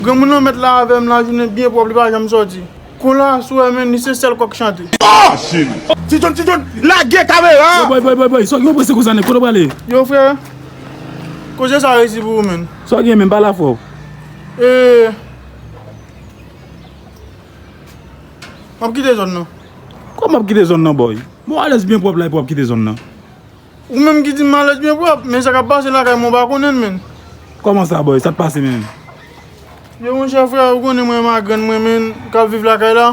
Granmoun lan met la avem la jounen byen pwop li pa janm soti Kon la aswè men li se sel kok chante. Ah cheri. Ti John ti John lage kamera a. Boy boy boy boy Sòk gen ou prese konsa nèg kote ou prale. Yo frè Koze sa resi pou ou menn. Sa w gen menm pale afè w. Eee Map kite zòn nan. Kòman wap kite zòn nan boy. Bon alèz byen pwòp la epi wap kite zòn nan. Ou menm ki di malèt byen pwòp, men sa kap pase lakay mwen ou pa konnen l menn. Kòman sa boy, sa t pase menm? Yo monchè frè, ou konnen mwen magrann mwen menn kap viv lakay la,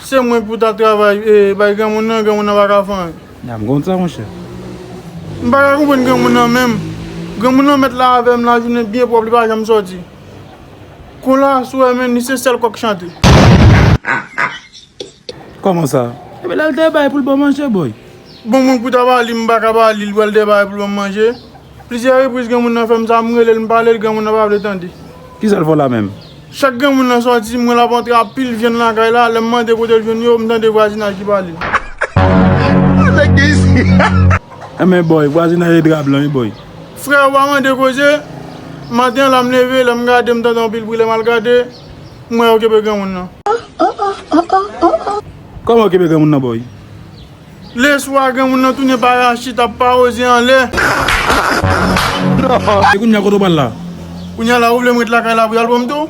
se mwen pou ta travay bay granmoun nan, granmoun nan pa ka fè anyen. A m konn sa monchè. M pa ka konprann granmoun nan menm, granmoun nan mèt la avè m lajounen byen pwòp li pa janm sòti. Kon la aswè menn li se sèl kòk chante. Koman sa? Epi lèl te bay poul ban manje boy. Bon mwen pou ta ba li m paka ba li l pral te bay poul banm manje plizyè repriz granmoun nan fèm sa m relel m palel granmoun nan pa vle tande. Kisal fè w la menm? Chak granmoun nan sòti m wè lap antre a pil vyann lakay la lèm mande kotel jwenn yo m tande vwazinaj ki pale. Bon nèg gen isit. Enben boy vwazinay e dra blan wi boy. Freo pa mande koze, maten an la m leve lèm gade m tande anpil bri lèm al gade. M wè yo kenbe granmoun nan. Kòman yo kenbe granmoun nan boy? Leswa granmoun nan tounen parachit ap pawoze anlè. E kounya kote w pral la? Kounya la ou vle m ret lakay la pou y al pran m tou?